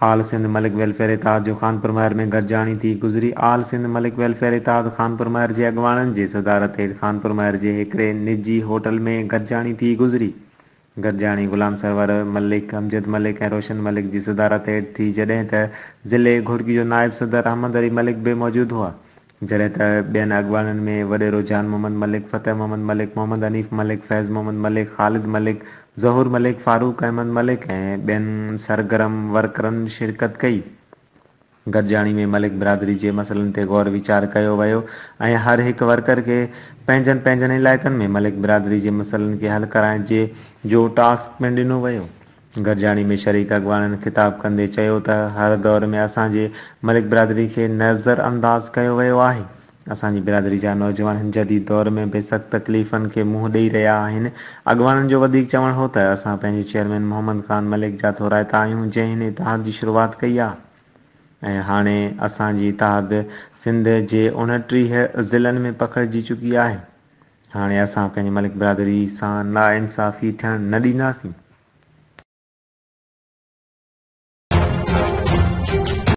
آل سنڌ ملڪ ويلفيئر اتحاد جو خانپور مهر ۾ گڏجاڻي ٿي گذري آل سنڌ ملڪ ويلفيئر اتحاد خانپور مهر جي اڳواڻن جي صدارت هيٺ خانپور مهر جي هڪڙي نجي هوٽل ۾ گڏجاڻي ٿي گذري گڏجاڻي غلام سرور ملڪ، امجد ملڪ ۽ روشن ملڪ جي صدارت هيٺ ٿي جڏهن ته ضلعي گهوٽڪي جو نائب صدر احمد علي ملڪ به موجود هئا جڏهن ته ٻين اڳواڻن ۾ وڏيرو جان محمد ملڪ، فتح محمد ملڪ، محمد حنيف ملڪ، فيض محمد ملڪ، خالد ملڪ، ظهور ملڪ، فاروق احمد ملڪ ۽ ٻين سرگرم ورڪرن شرڪت ڪئي. گڏجاڻي ۾ ملڪ برادري جي مسئلن تي غور ويچار ڪيو ويو ۽ هر هڪ ورڪر کي پنهنجن پنهنجن علائقن ۾ ملڪ برادري جي مسئلن کي حل ڪرائڻ جي جو ٽاسڪ پڻ ڏنو ويو. گڏجاڻي ۾ شريڪ اڳواڻن خطاب ڪندي چيو ته هر دور ۾ اسان جي ملڪ برادري کي نظرانداز ڪيو ويو آهي، اسان جي برادري جا نوجوان هن جديد دور ۾ به سخت تڪليفن کي منهن ڏئي رهيا آهن. اڳواڻن جو وڌيڪ چوڻ هو ته اسان پنهنجي چيئرمين محمد خان ملڪ جا ٿورائتا آهيون جنهن هن اتحاد جي شروعات ڪئي آهي ۽ هاڻي اسان جي اتحاد سنڌ جي اوڻٽيهه ضلعن ۾ پکڙجي چڪي آهي هاڻي اسان پنهنجي ملڪ برادري سان ناانصافي ٿيڻ نه ڏينداسين.